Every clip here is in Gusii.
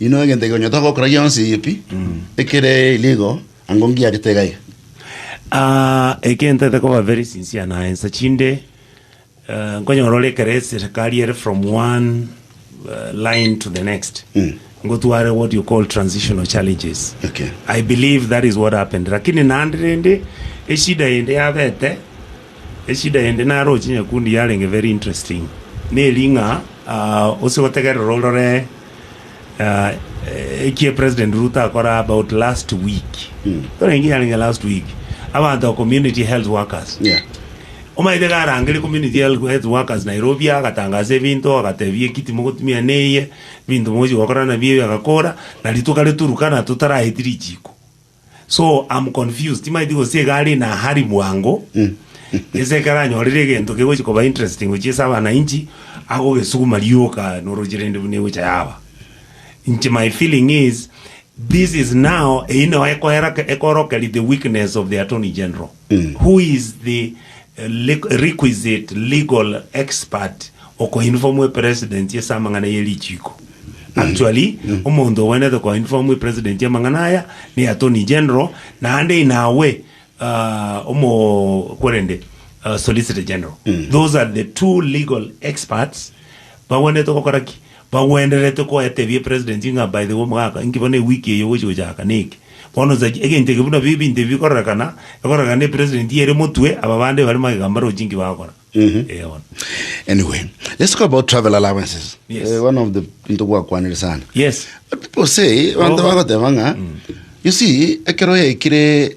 Inwe egento ekero nyotaka gokora gionsi pi, ekere erio igo, ango ngiarete iga iga. Ah, eke ntaete koba very sincere naye, inse chinde eh, nkonyora ore ekero eserekari ere from one eh, line to the next Mm. ngotware what you call transitional challenges Okay. i believe that is what happened lakini naende rende eshida ende yabete Echida ende naroche nyakundi yarenge very interesting, neri ng'a gose gotegerera orore ekie President Ruto akora about last week, torenge yarenge last week, abanto ba community health workers. Yeah. Omanyete iga arangerie community health health workers Nairobi agatangasa ebinto agatebia eki timogotumia na eye, ebinto mogochi gokora nabio eye agakora, na rituko ria Turkana totaraeti richiko. So am confused, timaeti gose iga are in a hurry bwango ase ekero anyorire egento kegochi koba interesting gochia ase abanainchi, agogesuguma rioka noroche rende buna egocha yaba. Inche my feeling is this is now eyio nao ekoera ekorokeria the weakness of the Attorney General. Who is the requisite legal expert okoinform a president ase amang'ana ye richiiko? Actually, omonto obwenerete koinform a president amang'ana aya ne attorney general, naende in a way omo kwerende solicitor general. Those are the two legal experts bagwenerete gokora ki? Bagwendererete koetebia epresident ng'a by the way omogaka inki bono ewiki eye ogochia gochaka neki? Bono osache egento eke buna biri ebinto ebi bikororekana, ekororekana na epresident ere motwe, aba bande bare magega mbarochi inki bagokora. Eeh bono. Anyway, let's talk about travel allowances. Yes. Eh, one of the into gwakwanire sana. Yes. But people say, abantu Oh. bagoteba ng'a, you see, ekero yaikire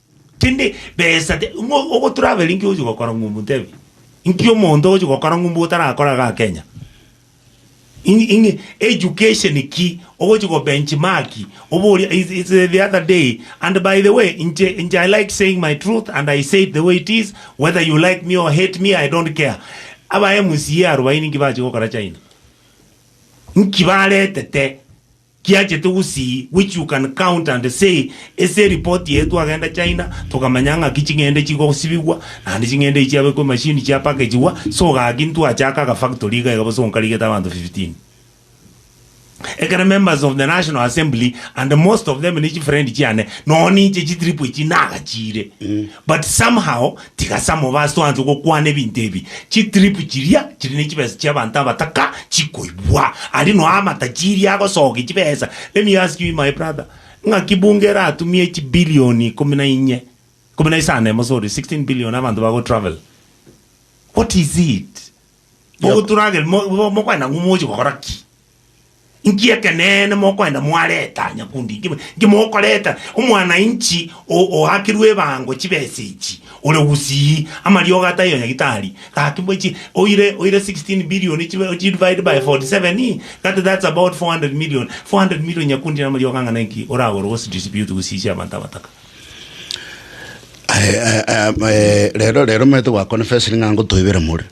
Tindi besa te ng'o ogo travel nki ogochi gokora ng'umbu ntebe nki omonto ogochi gokora ng'umbu otarakora iga Kenya. Ing'i ing'i education ki ogochi go benchmark oboria is is the other day and by the way inche inche I like saying my truth and I say it the way it is whether you like me or hate me I don't care. Aba MCA arubaini nki bachi gokora China? Nki baretete? Kiachete gusii we you can count and say ase eripoti eye twagenda China tokamanya ng'aki ching'ende chigosibigwa naende ching'ende echi chiabekwa emachine chia packagigwa so gaki ntwachaka aga factory iga iga bosa onkarigete abanto 15 ekero members of the national assembly and most of them ne chifriend chiane nonye ninche chitrip echi nagachiire but somehow Tiga Samoba asoanse gokwana ebinto ebi, chitripu chiria chire ne chibesa chi'abanto abataka chikoibwa, aria noa amata chiria agosokia chibesa. Let me ask you my brother, ng'aki bunge eratumie chibilioni ikomi na inye, ikomi na isano emo sorry, 16 billion abanto bago travel? What is it? Bogoturage mo- mo- mokoenda ng'o mogochia gokora ki? Nki ekeneene mokoenda mwareta nyakundi? Nki, nki mokoreta omwana-inchi o- oakirwe ebango chibesa echi, ore gusii, amariogo ataiyo nyagitari? Gaki mbo chi, oire, oire 16 billion chibe, ochidivide by 47, that, that's about 400 million. 400 million nyakundi namariogo ang'ana inki oragore ogosidistribute gosiisia abanto abataka? Aye, aye, aye, eh, rero rero omanyete gwakonfesiri ng'a ngotoibera more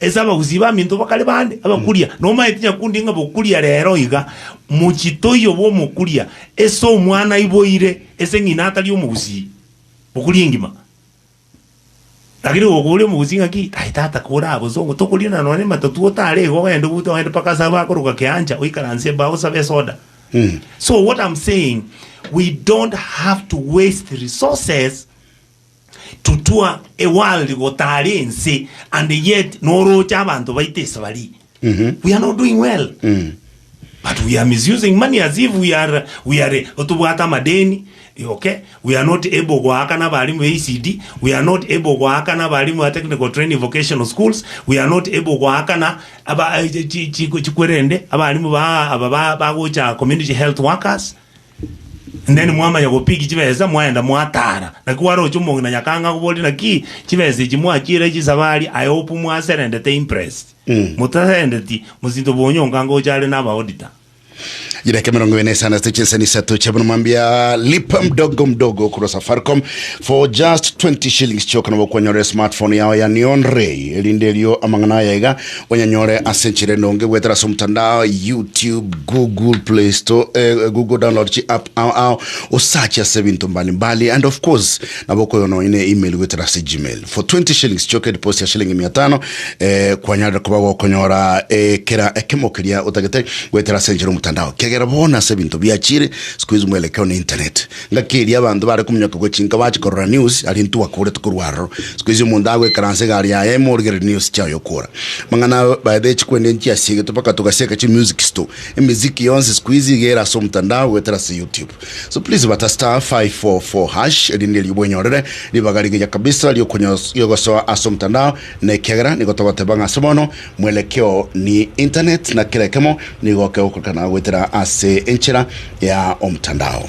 Ase abagusii baminto bakare bande abakuria, nomaeti nyakundi ng'a bokuria rero iga, mochitoyo bw'omokuria ase omwana aiboire ase ng'ina atari omogusii, bokuria engima. Lakini gokoboria omogusii ng'aki, Aye tata kore abosongo, tokoriana nonya ematatu otare iga ogende ogote ogende mpaka ase abakoroka Keancha oikaranse embao osabe esoda. So what am saying, we don't have to waste resources. Tutua a world gotari ense and yet noroche abanto baito esabari. We are not doing well. But we are misusing money as if we are we are otobwate amadeni. Okay, we are not able goakana abarimu be ECD, we are not able goakana abarimu ba technical training vocational schools, we are not able goakana aba chi- chi- chikwerende abarimu ba aba ba- bagocha community health workers. Then mwamanya gopick chibesa mwaenda mwatara. Naki kwaroche omong'ina na nyakanga akoborie naki chibesa echi mwachiire chisabari I hope mwaserendete impressed. Motaserendeti mosinto bonyo onga ngocha are naba auditor. Chidakika emerongo ebere na isano ase chinsemo isato chia bono mwambia lipa mdogo mdogo korwa safaricom for just 20 shillings chioka nabo okwanyorera smartphone yao ya neon ray erinde erio amang'ana aya iga Onyanyore ase enchera enonge goetera ase omotandao, YouTube, Google Play Store, eh, Google download chi app ao ao, osachi ase ebinto mbali mbali and of course nabo okoywa nonye ne email goetera ase Gmail. For 20 shillings chioka ediposi ya shilingi mia tano eh, kwanyarire koba gokonyora eh, kera ekemo keria otagete goetera ase enchera omotandao, kiagera bono ase ebinto biachire sikuizi mwelekeo ne internet. Ngaki eria abanto baare kominyoka gochia inka bachia korora news aria intwe gwakoorete korwa aroro. Sikuhizi omonto agoikaransa egari yaye ime origereri news chiaye okoora. Amang'ana abo by the way chikwende nchiasiegete mpaka togasieka chi music store. Emiziki yonsi sikuhizi iga ere ase omotandao goetera ase youtube. So please bata star five four four hash erinde erio bwenyorere ribaga rigiya kabisa riogosoa ase omotandao na ekiagera nigo togoteba ng'a ase bono Mwelekeo ni internet na kera ekemo nigo kegokorekana goetera ase enchera ya omtandao.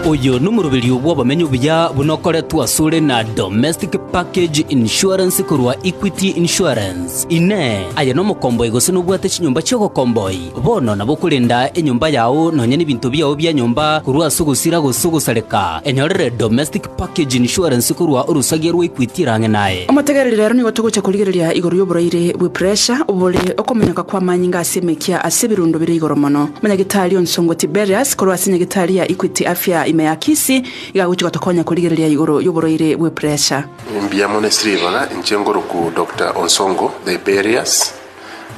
Oyo nomoroberio bw'obomenyo obuya buna okoretwe asore na Domestic Package Insurance korwa Equity Insurance. Inee! Aye nomokomboi gose nobwate chinyomba chi'ogokomboi? Bono nabo okorenda enyomba yao nonya nebinto biao bia nyomba korwa ase ogosira gose ogosareka, enyorere Domestic Package insurance korwa orosagia rwaikwetie rang'e naye. Omotegereri rero nigo togocha korigereria igoro y'oboraire bwe puresha obore okomenyoka kw'amanyinga ase emekia ase ebirundo bire igoro mono. Monyagitari o nsongo Tiberius korwa ase nyagitari ya Equity Afya ime ya Kisii iga agochia gotokonya korigereria igoro y'oboraire bwe puresha. Mbuya mono esira ebaga inche ngoroku Doctor Onsongo Thiberius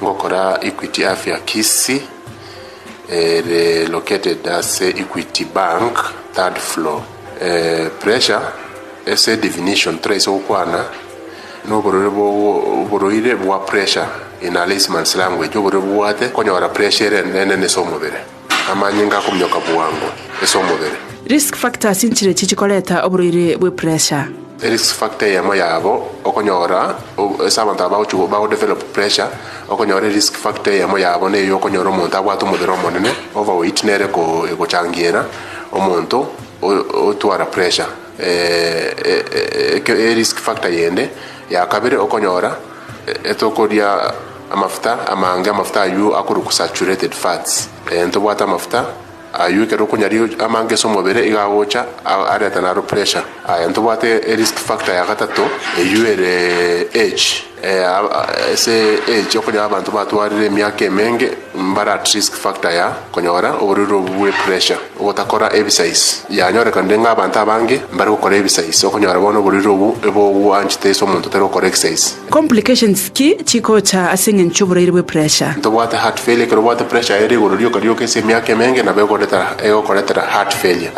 ngokora Equity Afya Kisii ere located ase Equity Bank third floor. Pressure ase definition toraisa gokwana na oborore bwa oborwaire bwa pressure in a layman's language oborwaire bobwate konyora pressure ere enene ase omobere, amanyinga akominyoka bwango ase omobere. Risk factors nchire echi chikoreta oborwaire bwe pressure. Risk factor eyemo yabo okonyora ase abanto aba bagochi bago develop pressure okonyora risk factor eyemo yabo neyokonyora omonto abwate omobere omonene, overweight, nere ko egochangiera. Omonto otwara pressure e risk factor yende ya kabere okonyora tokoria amafuta amange amafuta aywo akorokwa saturated fats tobwate amafuta aywo ekero okonyaria amange ase omobere iga agocha areta naro pressure tobwate risk factor ya gatato eywo ere age. Ase age okonyora abanto batwarire emiaka emenge mbare at risk factor ya konyora oborwaire obwo bwe pressure ogotakora ebisais yanyorekanire ng'a abanto abange mbare gokora ebisais okonyora bono oborwaire obwo ebogwanchete ase omonto otari gokora exais. Complications ki chigocha ase eng'encho y'oborwaire bwe pressure? Tobwate heart failure ekero obwate pressure ere igoro rioka rioka ase emiaka emenge nabo egoretera egokoretera heart failure.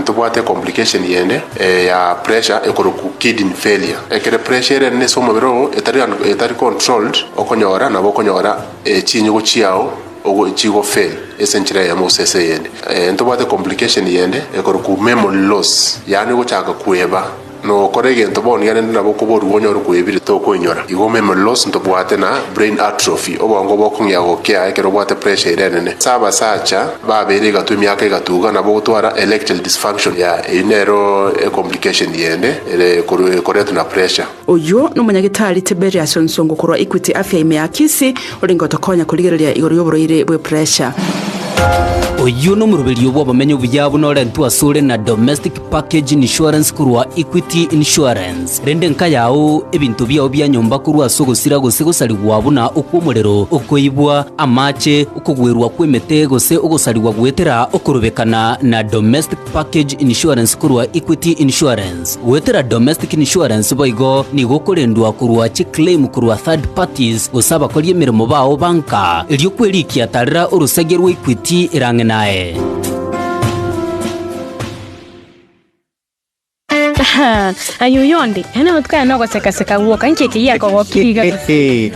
Tobwate complication yende. ya pressure ekorokwu kidney failure. Ekere pressure ere enene ase omobere oo etari under etari controlled okonyora nabo okonyora chinyigo chiao ogo chigo fail ase enchera eyemo gose ase eyende. Ntobwate complication yende ekorokwu memory loss yaani ogochaka kweba nokora egento bono iga rende nabo okoboruo onyore kwebire tokoinyora igo memory loss ntobwate na brain atrophy obongo bokong'ea gokea ekero obwate pressure ere enene. Ase abasacha. Babeire egatwa emiaka egatuga nabo gotwara erectile dysfunction ya eyi nero e complication yende ere koru ekoretwa na pressure. Oyio nomonyagitari Tiberius Nsongo korwa Equity Afya ime ya Kisii orenge gotokonya korigereria igoro yoborwaire bwe pressure. Oyio nomoroberio bw'obomenyo obuya buna orentwe asore na domestic Package insurance korwa Equity Insurance, rende nkayao ebinto biao bia nyomba korwa ase ogosira gose gosarigwa buna okw'omorero, okoibwa, amache, okogwerwa kw'emete gose ogosarigwa goetera okorobekana na domestic package insurance korwa Equity Insurance. Goetera domestic insurance boigo nigo okorendwa korwa chiclaim korwa third parties gose abakori emeremo bao ba nka. Erio kwerikia tarera orosagia rwa Equity erang'e naye. Aye oyo onde, nonya notikane nogosekaseka gwoka, inki eke giakogokiriga?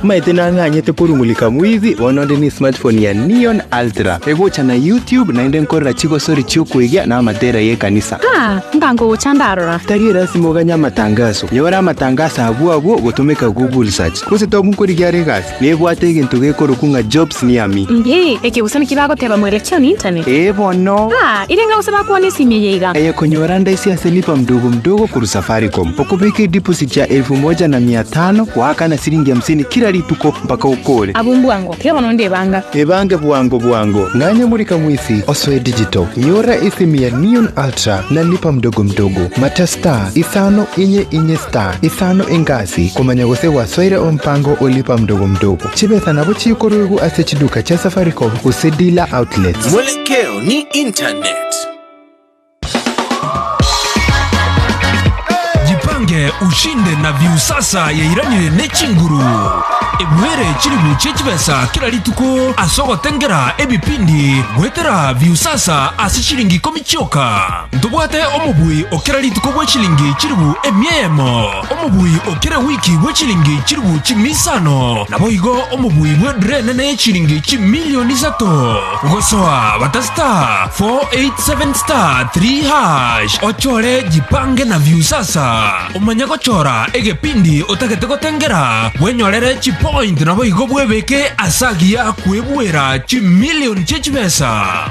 Maete nang'anyete korung'urika mwibi, bono onde ne smartphone ya Neon Ultra, egocha na YouTube, naende nkorora chigosori chi'okoigia na amatera y'ekanisa. Ah, nka nkogocha ndarora. Tari elasima oganye amatangaso. Nyora amatangaso abwo abwo gotomeka Google Search. Gose tobu nkorigia are egasi. Nebwate egento gekorokwa ng'a Jobs Niami. Inki ekegusani kibagoteba more lecture on internet? Ee bono. Aa, iri enga gose bakwane esimia eye iga. Eye konyora ndaise ase lipa mdogo mdogo korwa Safaricom. Okobeka edeposit ya elfu moja na mia tano goakana siringi hamsini kila rituko mpaka okore. Abwo mbwango, tiga bono onde ebanga. Ebange bwango bwango. Ng'anya murika mwisi osoe digital. Nyora esimu ya Neon Ultra na lipa mdogo mdogo. Mata star, isano, inye, inye star, isano engash. Ase komanya gose gwasoire ompango o lipa mdogo mdogo, chibesa nabo chikoruegwa ase chiduka chia Safaricom gose dealer outlets. Mwelekeo ni internet. Jipange ushinde na Viusasa yairanire ne chinguru. Ebuere chilifu chie chibesa kera rituko ase ogotengera ebipindi goetera Viusasa ase chilingi ikomi chioka. Ntobwate omobui o kera rituko bwe chilingi chilifu emia eyemo. omobui o kera wiki bwe chilingi chilifu chimia isano, naboigo omobui bw'edura enene ye chilingi chimilioni isato, gosoa bata star 487 star 3 hash ochore jipange na viusasa. Omanye gochora egepindi otagete gotengera bwenyorere chipoint naboigo bwebeke ase agiya kwebuera chimilioni chie chibesa.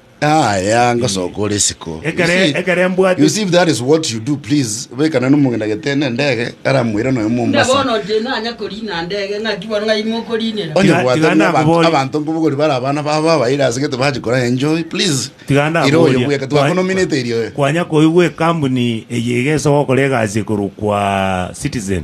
Ah, yeah, ngosoka ore isiko. Ekere- You see- ekere mbwate- You see, if that is what you do, please, bekana nomong'ina getene ndege, aramwira noyo Buna mombasa. bono oche nanya korina ndege ng'aki bono ng'ai mokorinera. Onye Tiga- bwate tiga buna abantu- nakobori. Abanto nkobogori bara abana babo abaire ase gete bachi kora enjoy, please. Tiga Ira oyo ndakoboria. bweka, twakonominate eri oyo. Kwanya koigwa ekambuni eye egesa gokora egasi ekorokwa Citizen.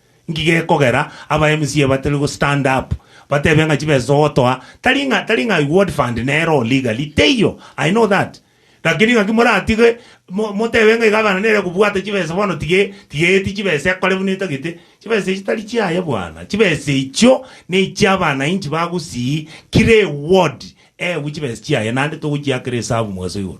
Nki gekogera aba MCA batari go stand up batebe ng'a chibesa ogotoa tari ng'a tari ng'a ward fund nero oo legally teiyo I know that lakini ng'aki moratige mo motebe ng'a egabana nere ekobwate chibesa bono tige tigeeti chibesa ekore buna etagete chibesa echio tari chiaye bwana chibesa echio na echia abanainchi bagusii kira eward eegwe chibesa chiaye naende togochiakera esabu mogaso igoro.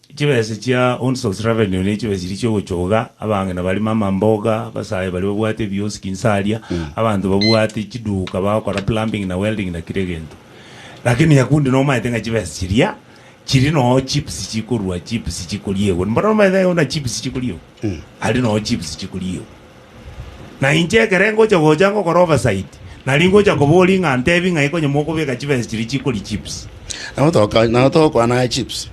Chibesa chia Hounds of Revenue ne chibesa chiria chiogochoga, abang'ina barimo amamboga, abasae baria babwate ebioski inse aria, abanto babwate chiduka bagokora plumbing na welding na kira egento. Lakini nyakundi nomaete ng'a chibesa chiria chiri noo chips chikorua chips chikoriegwa. Mboro nomaete buna chips chikoriegwa, aria noo chips chikoriegwa. Na inche ekere ngocha gocha ngokora oversight, nari ngocha koboria ng'a ntebi ng'ai konya mokobeka chibesa chiria chikori chips. Nabo toka- nabo togokwana aye chips.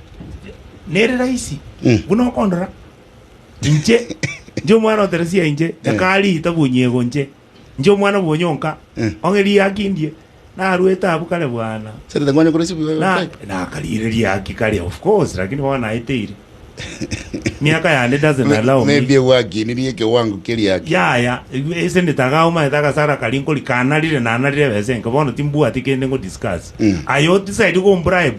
Nere rahisi, Mm. buna okondora. Inche, inche omwana o Teresia inche, nyakari itabu onyiego inche. Inche omwana bwonyonka, Eh. ong'e riaki ndie. Narwete abwo kare bwana. Nakarigereria haki kare of course lakini bono naeteire. Miaka yane doesn't allow me. Maybe gwakinirie ekewango keria haki. Yaya, ase endetanga agwo omanyete agasara karia nkorire, kanarire nanarire ebesa enke bono timbwati kende ngo discuss. Aye o decide kombribe,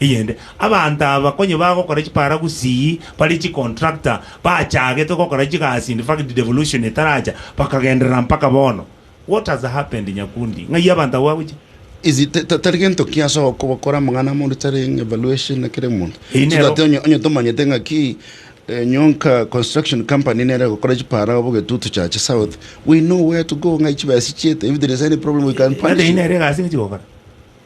Eyende, abanto aba konye bagokora chiparagusi bari chicontractor, bachagetwe gokora chigasi in fact devolution etaracha bakagenderera mpaka bono. What has happened Nyakundi? Ng'ai abanto abwo bagochia? Is it tari gento ki ase ogokora amang'ana amonto taring evaluation na kera omonto Eyi so nero- that onye tomanyete ng'aki eh, nyonka construction company nere egokora chipara obo getutu chache south we know where to go ng'ai chibesa chiete if there is any problem we can punish Nade you. inere egasi ng'echigokora.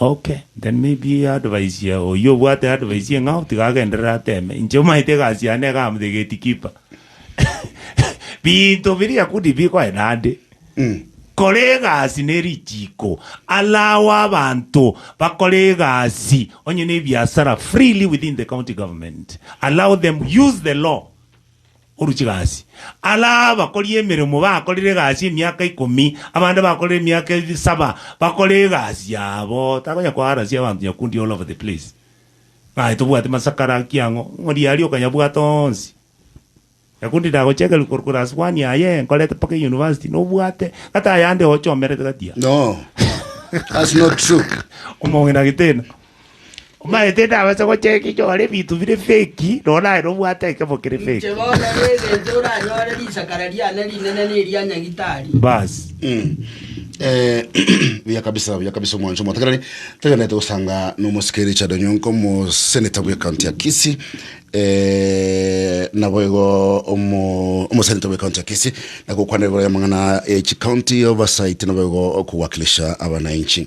Okay, then maybe advice ya oyio obwate advice ye ng'ao tiga agenderere ateme. Inche omanyete egasi yane iga am the gate keeper. Binto biria kudi bikoe nande. Kora egasi ne richiiko. Allow abanto bakore egasi onye ne ebiasara freely within the county government. Allow them use the law. Oruche gasi. Ara abakori emeremo bakorire egasi emiaka ikomi, abande bakorire emiaka ebe saba, bakore egasi yabo. Takonya koarasia abanto nyakundi all over the place. Ng'ai tobwate masakara ki ang'o? Ng'ori aria okonyabwata onsi. Nyakundi ndagochekeria korwa class one aye nkorete mpaka euniversity nobwate kata ayande ochomerete gati aa. No, that's not true. Omong'ina getena. Omanyete ndabase gocheka inche ore ebinto bire fake, nonya naye nobwate ekemo kere Inche fake. bono negencho oranyore risakara riane rinene na eria nyagitari. Bas. Mm. Eh, buya kabisa buya kabisa omwancho omwatakerani togenderete gosanga nomosike richard onyonko omoseneta bwe county ya kisi eh, naboigo omo- omoseneta bwe county ya kisi nagokwana igoro y'amang'ana echi county oversight naboigo okowakilisha abananchi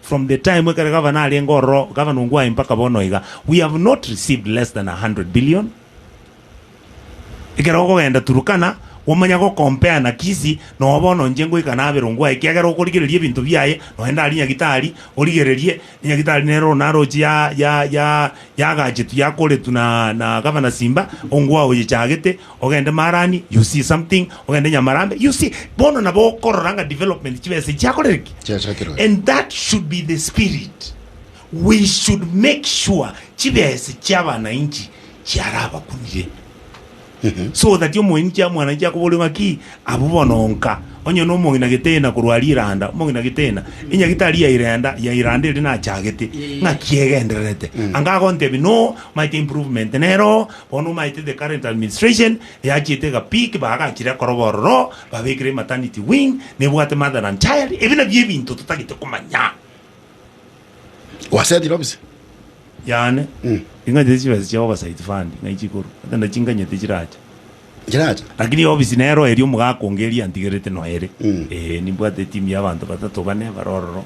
From the time ekero gavana arenge ororo, gavana ong'u aye mpaka bono iga, we have not received less than a hundred billion. Ekero okogenda Turkana, omanya go compare na Kisii, noo bono inche ngoika nabera ong'u aye, ekiagera okorigereria ebinto biaye, nonye ndari nyagitari, origererie, enyagitari nero onaroche ya, ya, ya, yagachetu, yakoretu na, na gavana Simba, ong'u aye oyechagete, Ogende Marani, you see something, ogende Nyamarambe, you see. Bono nabo okorora ng'a development chibesa echio chiakorire ki? Chiachakerwa. And that should be the spirit. We should make sure chibesa chi'abanainchi chiarabakunire. So that omoini chia mwananchi akoboria ng'aki, abwo bono nka. Onye na omong'ina gitena korwa riranda, omong'ina gitena, enyagitari ya irenda, ya iranda eria nachagete, ng'aki egendererete. Anga agontebia no, maete improvement nero, Bono omaete the current administration eachiete egapick bagachire koroba ororo babekire ematernity wing nebwate mother and child ebi nabio ebinto totagete komanya. Gwasetire obise? Yane ing'anyete chibesa chia oversight fund ng'ai chikorwa gose ndachinganyete chiracha. Chiracha? Lakini obisi nero eria omogaka onge eria antigerete noyo ere. Ee nimbwate etimu ya abanto batato bane bare ororo.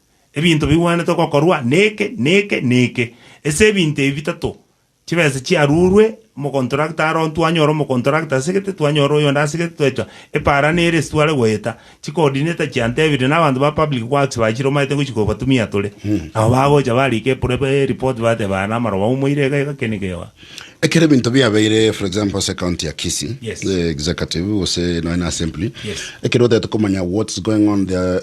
ebinto bigwenerete gokorwa neke, neke, neke. Ase ebinto ebi bitato, chibesa chiarurwe, omokontrakta aro twanyora omokontrakta asegete, twanyora oyonde asegete, twaitwa epaara nere ase tware goeta, chikoodineta chiantebire na abanto ba public works bachire omanyete ngochia kobatumia tore. Nabo bagocha barika epore ba ereport bateba aya namaroba moumoire iga iga kende kegwa. Ekero ebinto biabeire for example ase county ya Kisii, Yes. eh, executive gose nonya na assembly, Yes. ekero otagete komanya what's going on there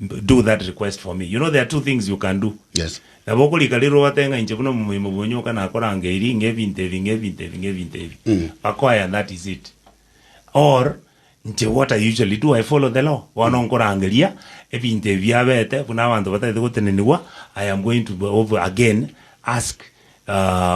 do that request for me, you know there are two things you can do, Yes. nabo okorika rirogo otebe ng'a inche buna omomoimo bw'onyoka nakoranga eri ng'a ebinto ebi, ng'a ebinto ebi, ng'a ebinto ebi, Mm. bakoe and that is it. Or, inche what I usually do, I follow the law, bono nkorangeria ebinto ebi biabete buna abanto batagete gotenenigwa, I am going to be over again ask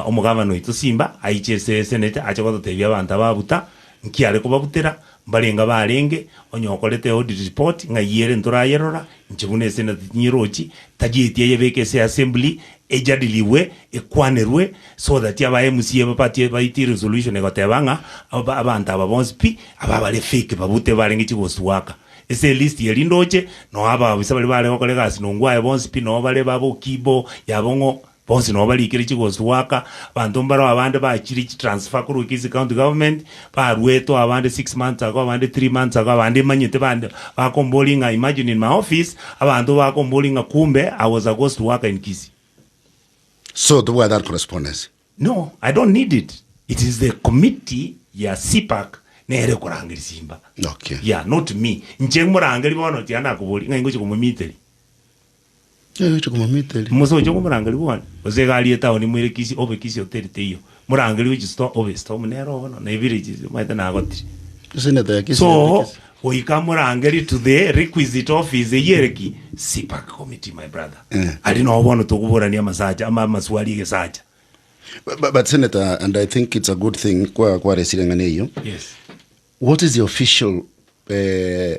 Omogavana oito simba aiche ase esenete ache gototebia abanto ababuta nki are kobabutera, mbarenge abarenge, onye okorete audit report ng'ai ere ntorayerora, inche buna esenate tinyerochi, tagieti ayebeke ase assembly, ejadiliwe, ekwanerwe so that aba MCA babatie baitie resolution egoteba ng'a aba abanto aba bonsi pi aba bare fake babute barenge chigoswaka. Ase elist eye rinde oche, noo aba abisa baria bare gokora egasi nongo aye bonsi pi noo bare baboki bo yabo ng'o. Bonsi nabo barikire chigosi goaka abanto mbaro abande bachire chi transfer korwa Kisii county government baruetwe abande six months ago abande three months ago abande imanyete bande bakomboria ng'a imagine in my office abanto bakomboria ng'a kumbe I was a ghost worker in Kisii. So tobwate are correspondence. No I don't need it it is the committee ya CPAC nere ekorangeri simba Okay. yeah not me inche morangeria bono tiana koboria ng'a ingochi komomiteri. Musa oche komorangeria bwane, gose egari etaoni moire kisi obe kisi oteri teiyo, morangerie gochia store obe store buna ero bono na evillages omanyete nagotire. So goika morangerie to the requisite office eyio ere ki? CPAC committee my brother. Aria nabo bono tokoborania amasacha ama amaswali egesacha. Bu- bu- But Senator, and I think it's a good thing kwa kwaresire eng'ana eyo. Yes. What is the official eh,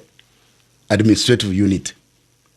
administrative unit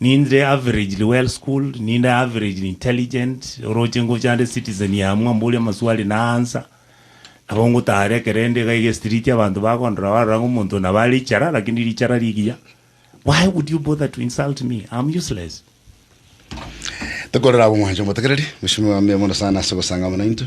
Ninde averagely well schooled, ninde averagely intelligent, oroche ngocha nde citizen ya amwo amborie amaswali na answer, nabo ngotara ekero inde iga iga estriti abanto bakondora barora ng'a omonto nabo are ichara lakini richara rigiya, why would you bother to insult me, I am useless. Tokorere abwo mwanche omotegereri. Mweshimiwa mbuya mono sana ase ogosangama naintwe.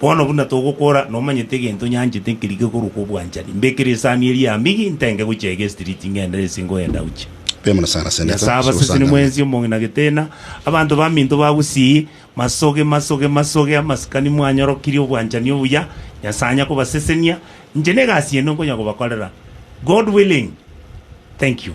Bono buna togokora, nomanyete egento nyanchete keria gekorokwa obwanchani, mbekere esani eria ya mbigi, ntenge gochia iga estriti ng'ende ase ngoyenda gochia. Nyasae abaseseni mwensi omong'ina na getena, abanto baminto bagusii, masoge, masoge, masoge, amasikani mwanyorokirie obwanchani obuya, Nyasae anya kobasesenia, inche negasi ende nkonya kobakorera, God willing. Thank you.